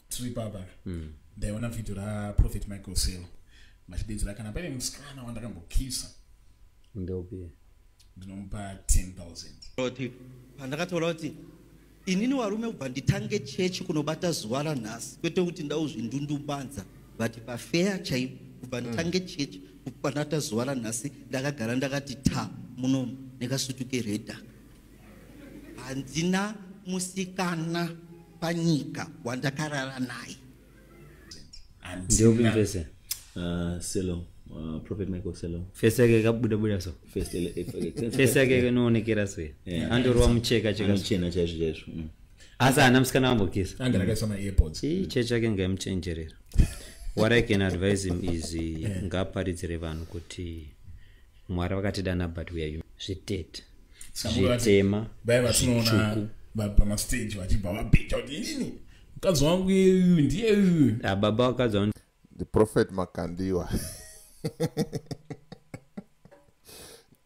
tiri papa mm. ndaiona vhidhio raprophet michael sale machidedzera kana paine musikana wandakambokisa ndopi ndinomupa 10000 pandakataura kuti inini varume kubva nditange chechi kunobata zuva ranhasi kwete kuti ndauzvindundumbanza but pafeya chaipo kubva mm. nditange chechi kupanata zuva ranhasi ndakagara ndakati ta muno nekasutu keredhaka handina musikana panyika wandakarara naye ndiokuinvese uh, selo uh, prophet michael selo fesi yake ikabuda buda so fesi yake inoonekera so andorwa mucheka chekachena chaizvo chaizvo mm. asi haana musikana wambokisa anga rakaiswa maairpods chii chechi yake ngaimuchenjerera what i can advise him is eh. ngaaparidzire vanhu kuti mwari vakatidana but we are human zvitete zvitema zvitsvuku pamastage vachibva vabheja kuti inini mukadzi wangu uyu ndiye uyu ah, baba vakadzi wangu the prophet makandiwa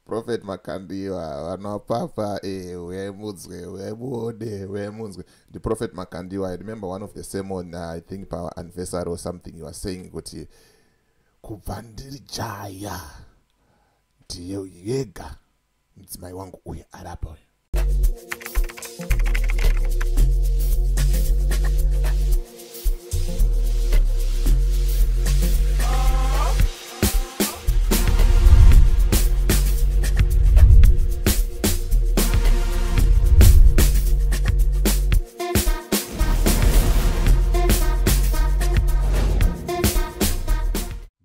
prophet makandiwa vanopapa eh, uyai mudzwe uyai muone uyai munzwe the prophet makandiwa i remember one of the sermon uh, i think pa anniversary or something you are saying kuti kubva ndiri jaya ndiye yega mudzimai wangu uye ari apa uyo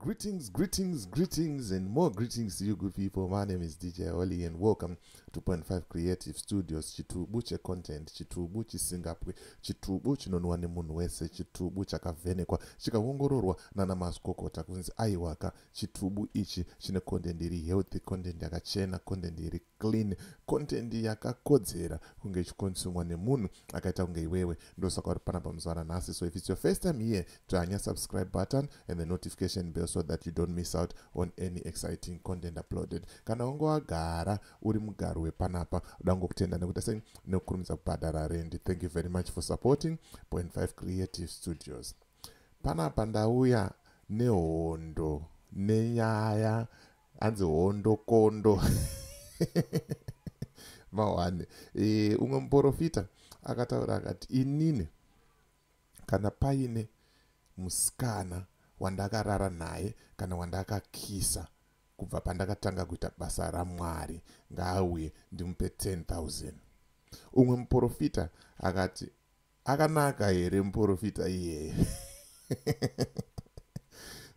Greetings, greetings, greetings, and more greetings to you, good people. My name is DJ Oli, and welcome to Point Five Creative Studios. Chitubu che content, chitubu chisingapwe, chitubu chinonwa nemunhu wese, chitubu chakavhenekwa, chikaongororwa nana mazvikokota kunzi aiwaka. Chitubu ichi chine content iri healthy, content yakachena, content iri clean content yakakodzera kunge ichikonsumwa nemunhu akaita kunge iwewe ndosaka uri panapa muzuva ranhasi so if it's your first time here dzvanya subscribe button and the notification bell so that you don't miss out on any exciting content uploaded kana wange wagara uri mugaro wepanapa uda ngokutenda nekuita sei nekukurumidza kubhadhara rendi thank you very much for supporting point 5 creative studios panapa ndauya nehondo nenyaya hanzi hondo kondo mahwani e, umwe muporofita akataura akati inini kana paine musikana wandakarara naye kana wandakakisa kubva pandakatanga kuita basa ramwari ngaauye ndimupe 10 000 umwe muporofita akati akanaka here muporofita iyeye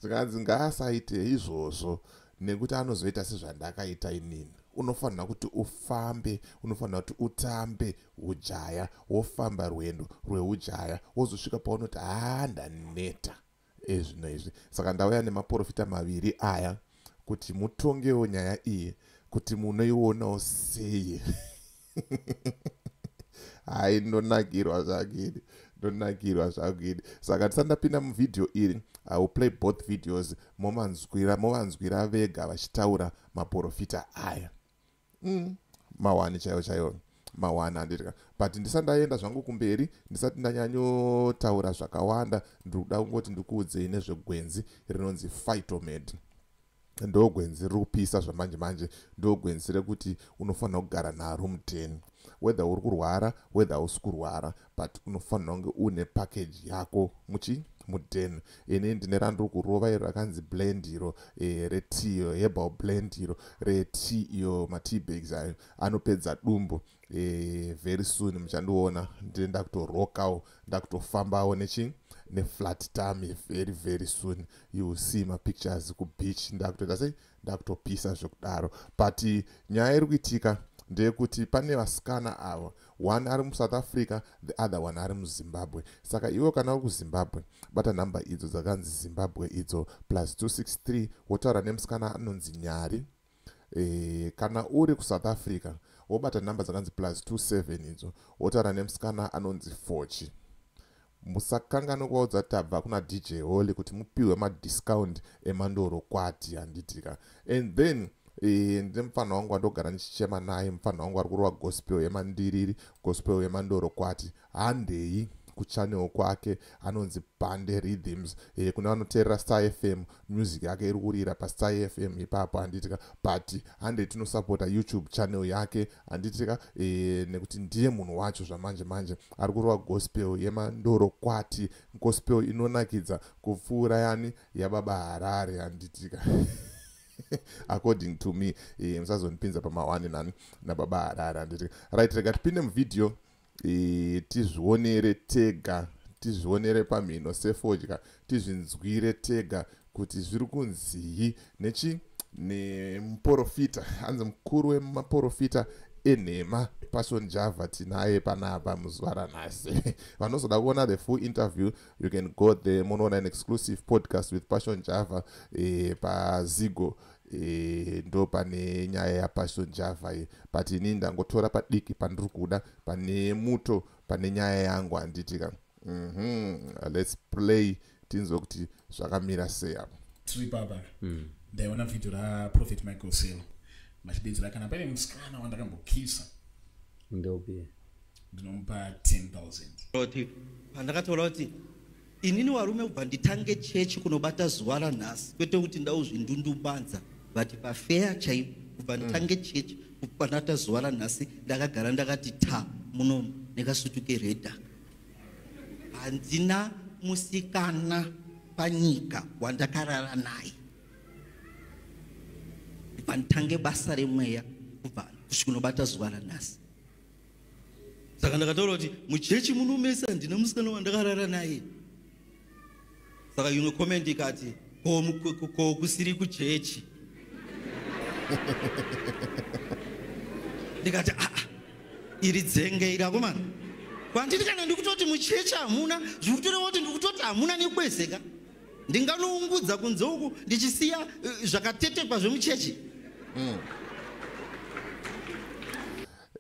zvikanzi ngaasaite izvozvo nekuti anozoita sezvandakaita inini unofanira kuti ufambe unofanira kuti utambe ujaya wofamba rwendo rweujaya wozosvika paunoti haa ndaneta ezvino izvi saka ndauya nemaporofita maviri aya kuti mutongewo nyaya iyi kuti munoionawo sei hai ndonakirwa zvakidi ndonakirwa zvakidi saka tisandapinda muvhidhiyo iri i will play both videos movanzwira movanzwira vega vachitaura maporofita aya mm. mawani chaiwo chaiwo mawani andidya but ndisati ndaenda zvangu kumberi ndisati ndanyanyotaura zvakawanda ndiri kuda kungoti ndikuudzei nezvegwenzi rinonzi phytomed ndogwenzi riri kupisa zvamanje manje ndogwenzi rekuti unofanira kugara naro muteni whether uri kurwara whether hausi kurwara but unofanira kunge une package yako muchi muden ini ndine randiri kurova iro rakanzi blend iro e, eh, retea iyo herbal blend iro retea iyo matea bags ayo anopedza dumbu e, very soon muchandiona ndine ndakutorokawo ndakutofambawo nechi neflat tami very very soon you will see mapictures kubeach ndakutoita sei ndakutopisa zvekudaro but nyaya iri kuitika ndeyekuti pane vasikana ava one ari musouth africa the other one ari muzimbabwe saka iwe kana uri kuzimbabwe bata nhamba idzo dzakanzi zimbabwe idzo plus 263 wotaura nemusikana anonzi nyari e, kana uri kusouth africa wobata nhamba dzakanzi plus 27 idzo wotaura nemusikana anonzi fochi Musakanganwe kuvaudza tabva kuna DJ Holy kuti mupihwe madiscount emandoro kwati handitika. And then e, ndine mupfanha wangu wandogara ndichichema naye mupfanha wangu ari kurova gospel yemandiriri gospel yemandoro kwati handei kuchanel kwake anonzi pande rhythms e, kune vanoteerera star fm music yake iri kurira pastar fm ipapo handitika but hande tinosapota youtube channel yake handitika e, eh, nekuti ndiye munhu wacho zvamanje manje ari kurova gospel yemandoro kwati gospel inonakidza kupfuura yani yababa harare handitika according to me e, musazondipinza pamawani nani nababa harare handitika right rega tipinde muvideo e, tizvionere tega tizvionere pamhino sefodya tizvinzwire tega kuti zviri kunzii nechi nemuporofita hanzi mukuru wemaporofita enhema passion java tinaye panapa muzuva ranhasi vanozoda kuona the full interview you can go there munoona an exclusive podcast with passion java e, pazigo e, ndo pane nyaya yapassion java ye but ini ndangotora padiki pandiri kuda pane muto pane nyaya yangu handitika mm -hmm. lets play tinzwe kuti zvakamira sei apo tiri papa mm. ndaiona vhidhio raprophet michael sel vachidedzera kana paine musikana wandakambokisa ndopi ndinomupa 10 000 pandakataura kuti Inini warume kubva nditange chechi kunobata zuva ranhasi kwete kuti ndauzvindundumbanza but pafeya chaipo kubva mm. nditange chechi kupanata zuva ranhasi ndakagara ndakati ta muno nekasutu keredha handina musikana panyika wandakarara naye kubva nditange basa remweya kubva kusvikunobata zuva ranhasi saka ndakataura kuti muchechi muno mese handina musikana wandakarara naye saka imwe comment ikati ko kusiri kuchechi ndikati aa ah, ah, iri dzenge iri akomana kwanditi kana ndikutoti muchechi hamuna zvikutoreva kuti ndikutoti hamuna nekwezeka ndinganoungudza kunze uku ndichisiya eh, zvakatetekwa zvemuchechi mm.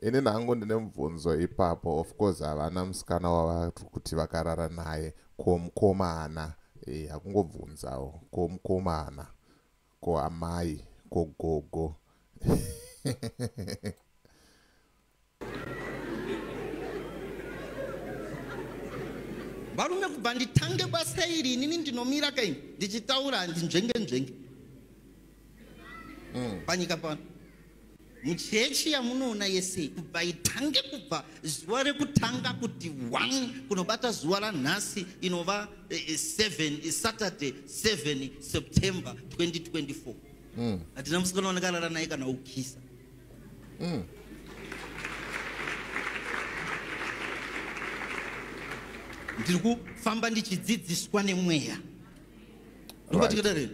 ini nangu ndine mubvunzo ipapo of course havana musikana wavari kuti vakarara naye ko mukomana e, hakungobvunzawo ko mukomana ko amai ko gogo varume kubva nditange basa iri inini ndinomira kaini ndichitaura handinzvenge nzvenge mm. panyika pano muchechi yamunoona yese kubva itange kubva zuva rekutanga kuti one kunobata zuva ranhasi inova 7 eh, eh, saturday 7 september 2024 mm. hatina mm. musikana wanakarara naye kana ukisa mm. ndiri kufamba ndichidzidziswa nemweya right.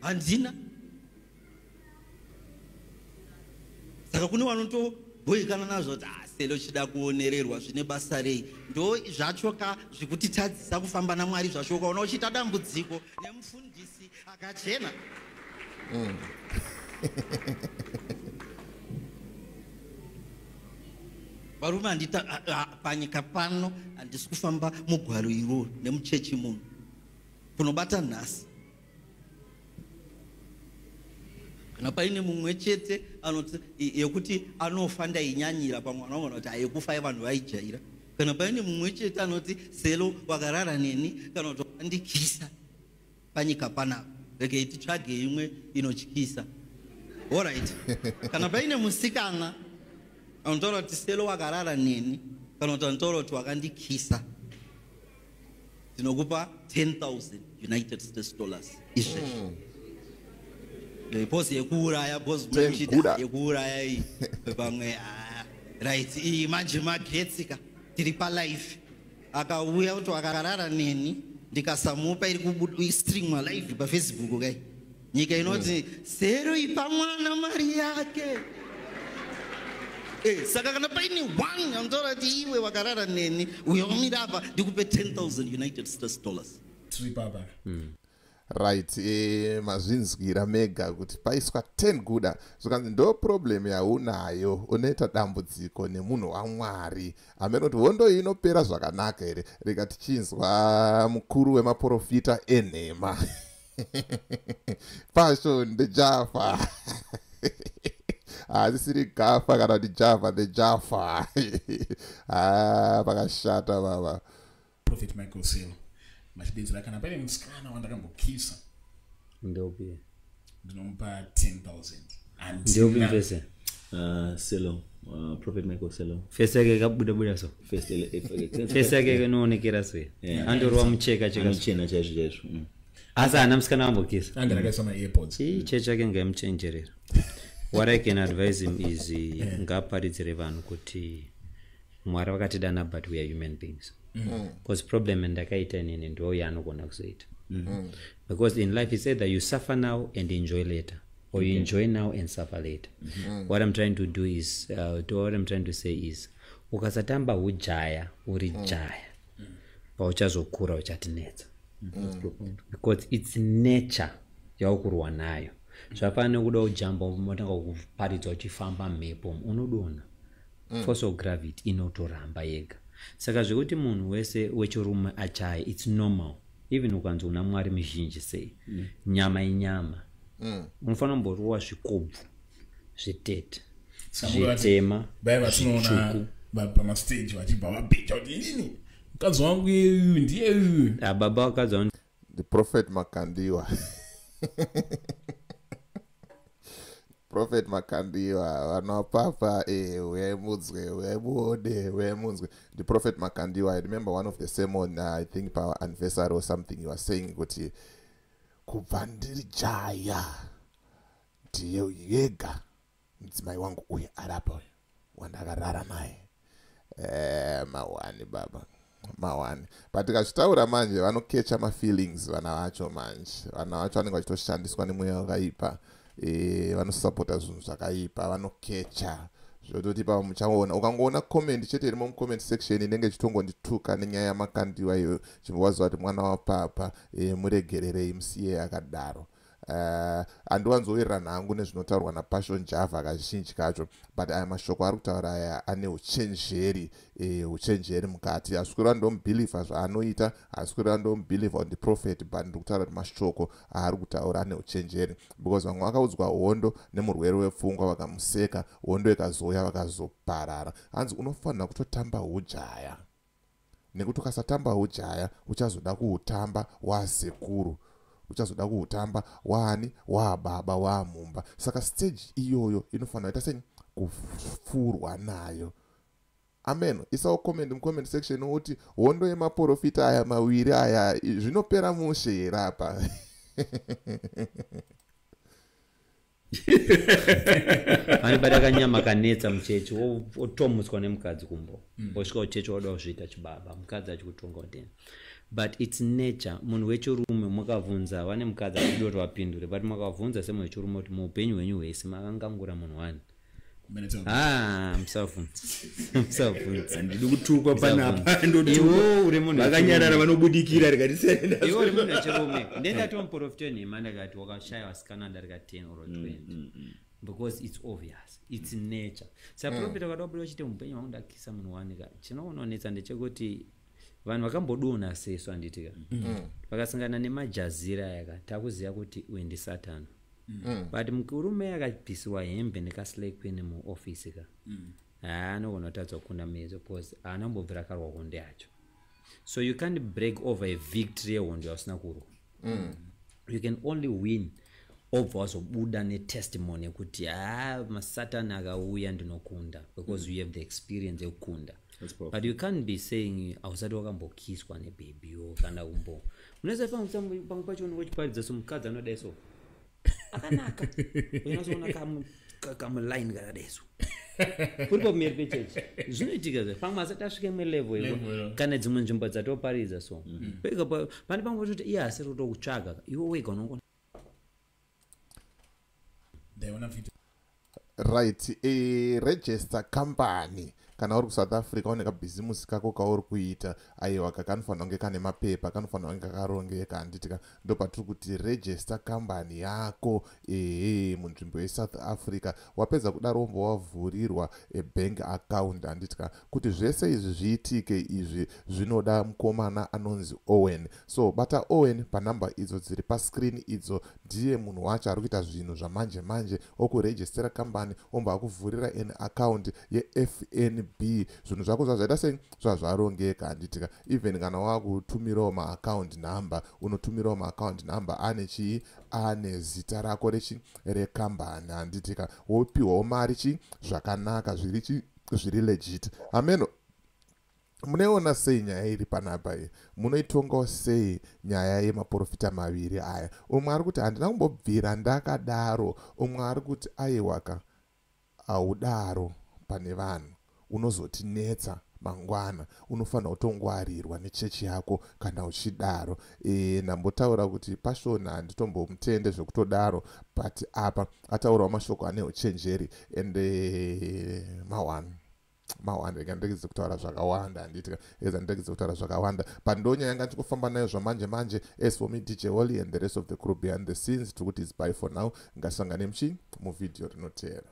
handina saka kune vanotoboikana nazvo kuti aselo ah, chida kuonererwa zvine basa rei ndo zvacho ka zvekutitadzisa kufamba namwari zvacho ukaona uchiita dambudziko nemufundisi akachena mm. varume handita panyika pano handisi kufamba mugwaro iroro nemuchechi munhu kunobata nhasi kana paine mumwe chete yekuti anofa ndainyanyira pamwe anogona kuti ayekufa yevanhu vaijaira kana paine mumwe chete anoti selo wakarara neni kana kuti wandikisa panyika panapa rekei titsvage imwe inotyisa orit kana paine musikana anotaura kuti selo wakarara neni kana kuti anotaura kuti wakandikisa tinokupa 10000 united states dollars izvezvi mm. Eh, pose yekuuraya pose kuchita yekuuraya iyi pamwe ah, right iyi manje magetsi ka tiri palife akauya kuti akarara neni ndikasamupa iri kubudistreamwa live pafacebook kai nyika inoti mm. sero ipa mwana mari yake eh, saka kana paine one anotaura kuti iwe wakarara neni uyo wamira apa ndikupe 10000 united states dollars tiri papa mm right e, mazvinzwira mega kuti paiswa 10 guda zvikanzi ndo problem yaunayo unoita dambudziko nemunhu wamwari amene kuti hondo iyi inopera zvakanaka here rega tichinzwa mukuru wemaporofita enhema passion the java hazisiri ah, gafa kana kuti java the java ah, pakashata baba prophet michael sale machidedzera kana paine musikana wandakambokisa ndopi ndinomupa 10000 ndopi mvese ah, selo prophet michael selo fese yake kabuda buda so fesi yake inoonekera sei andorova mucheka chekachena chaizvo chaizvo mm. asi haana musikana vambokisa anga rakaisa maairpods chii chechi yake ngaimuchenjerera what i can advise him is uh, ngaaparidzire vanhu kuti mwari vakatidana but we are human beings because mm. problem ndakaita inini ndo yaanogona kuzoita mm. because in life is either you suffer now and enjoy later or you enjoy now and suffer later mm-hmm. what i'm trying to do is uh, what i'm trying to say is ukasatamba hujaya uri mm. jaya mm. pauchazokura uchatinetsa mm. because its nature yaukurwa nayo zvafana nekuda ujamba motanga kuparidza uchifamba mhepo unodona mm. force of gravity inotoramba yega saka zvekuti munhu wese wechirume achaye its normal even ukanzi una mwari mizhinji sei mm. nyama inyama mm. unofanira kumboruwa zvikobvu zvitete zvitema zvitsvuku pamastage vachibva vabheja kuti inini mukadzi wangu yeuyu ndiye uyu ah, baba vakadzi wangu the prophet makandiwa prophet makandiwa vanapapa eh, uyai mudzwe uyai muone uyai munzwe the prophet makandiwa i remember one of the sermon uh, i think power anniversary or something you are saying kuti kubva ndiri jaya ndiye yega mudzimai wangu uye arapa uyo wandakarara naye eh, mawani baba mawani but tikazvitaura manje vanokecha mafeelings vana vacho manje vana vacho vanenge vachitoshandiswa nemweya wakaipa eh, vanosapota zvinhu zvakaipa vanokecha zvototi pa muchaona ukangoona comment chete irimo mucomment section inenge chitongondituka nenyaya yamakandiwa iyo chimbowaziva kuti mwana wapapa e, muregererei musiye akadaro Eh, handiwanzowirirana hangu nezvinotaurwa napassion java kazhinji kacho but aya mashoko ari kutaura aya ane uchenjeri eh, uchenjeri mukati hasi kureva ndomubhilivha zvaanoita hasi kureva ndomubhilivha on the prophet but ndiri kutaura kuti mashoko aari kutaura ane uchenjeri because vamwe vakaudzwa hondo nemurwere wepfungwa vakamuseka hondo ikazouya vakazoparara hanzi unofanira kutotamba hujaya nekuti ukasatamba hujaya uchazoda kuhutamba waasekuru uchazoda kuhutamba waani waababa waamumba saka stage iyoyo inofanira ita sei kufurwa nayo amen isawo comment mucomment section uti hondo yemaporofita aya mawiri aya zvinopera mushe here apa anibata kanyama kanetsa muchechi otomutswa nemukadzi kumbo mm. osvika uchechi wada kuzviita chibaba mukadzi achikutonga kudena but its nature munhu wechirume mwakavhunza vane mukadzi achidoti vapindure but mwakavhunza semunhu wechirume kuti muupenyu hwenyu hwese makangangura munhu wani Ah, ndidi kutukwa panapa ndodivakanyarara vanobudikira rikatisendatomprofita nhema ndakati wakashaya vasikana ndarika 10 or 20 mm, mm, mm. because its obvious its nature saprofita kadabuda chite mupenyu wangu ndakisa munhu wanika chinoononetsa ndechekuti vanhu vakambodonha sesu handiti ka mm. mm. vakasangana nemajazira aya ka takuziva kuti uyu ndisatan mm. but murume akabhisiwa hembe nekaslekpene muofisi ka haa anogona kutadzwa kukunda mezo bcause haana mbobvira akarwa hondo yacho so you can't break over a victory yehondo yausina kurwa mm. you can only win obva wazobuda netestimony yekuti ha ah, masatani akauya ndinokunda because mm. you have the experience yekukunda but you can't be saying hausati wakambokiswa nebhebio kana kumbo munoziva pamwe pacho unenge uchiparidza so mukadzi anodai so akanaka unazoona kamu kamuline kakadeso kuri pameri pechechi zvinoitika zve pamwe asati asvike imwe levo io kana dzimwe nzvimbo dzatoparidza so mm. pane pamwe patoti iye asiri kutokutsvaga iwe wega unongona right e, register company kana uri kusouth africa une kabhizimusi kako kauri kuita aiwa ka kanofanira kunge kane mapepa kanofanira kunge kakarongeka handitika ndo patiri kuti register company yako ehe munzvimbo yesouth africa wapedza kudaro wombo wavhurirwa ebank account handitika kuti zvese izvi zviitike izvi zvinoda mukomana anonzi owen so bata owen panumber idzo dziri pascreen idzo ndiye munhu wacho ari kuita zvinhu zvamanje manje okurejistera kambani omba akuvhurira an account yefnb zvinhu zvako zvazvaita sei zvazvarongeka handitika even kana wakutumirawo maaccount number unotumirawo maaccount number ane chii ane zita rako rechi rekambani handitika wopiwawo mari chii zvakanaka zviri chii zviri legit hameno munoiona sei nyaya iri panapa iyi munoitongawo sei nyaya yemaporofita maviri aya umwe ari kuti handina kumbobvira ndakadaro umwe ari kuti aiwaka haudaro pane vanhu unozotinetsa mangwana unofanira kutongwarirwa nechechi yako kana uchidaro e, ndambotaura kuti pashona handitombomutende zvekutodaro but apa ataurawo mashoko ane uchenjeri and uh, mawani mawani rega ndiregedze kutaura zvakawanda handiti eza ndiregedze kutaura zvakawanda but ndonyaya yanga ndichikufamba nayo zvamanje manje as for me dj wally and the rest of the crew behind the scenes tiri kuti is by for now ngasangane muchii muvhidhiyo rinoteera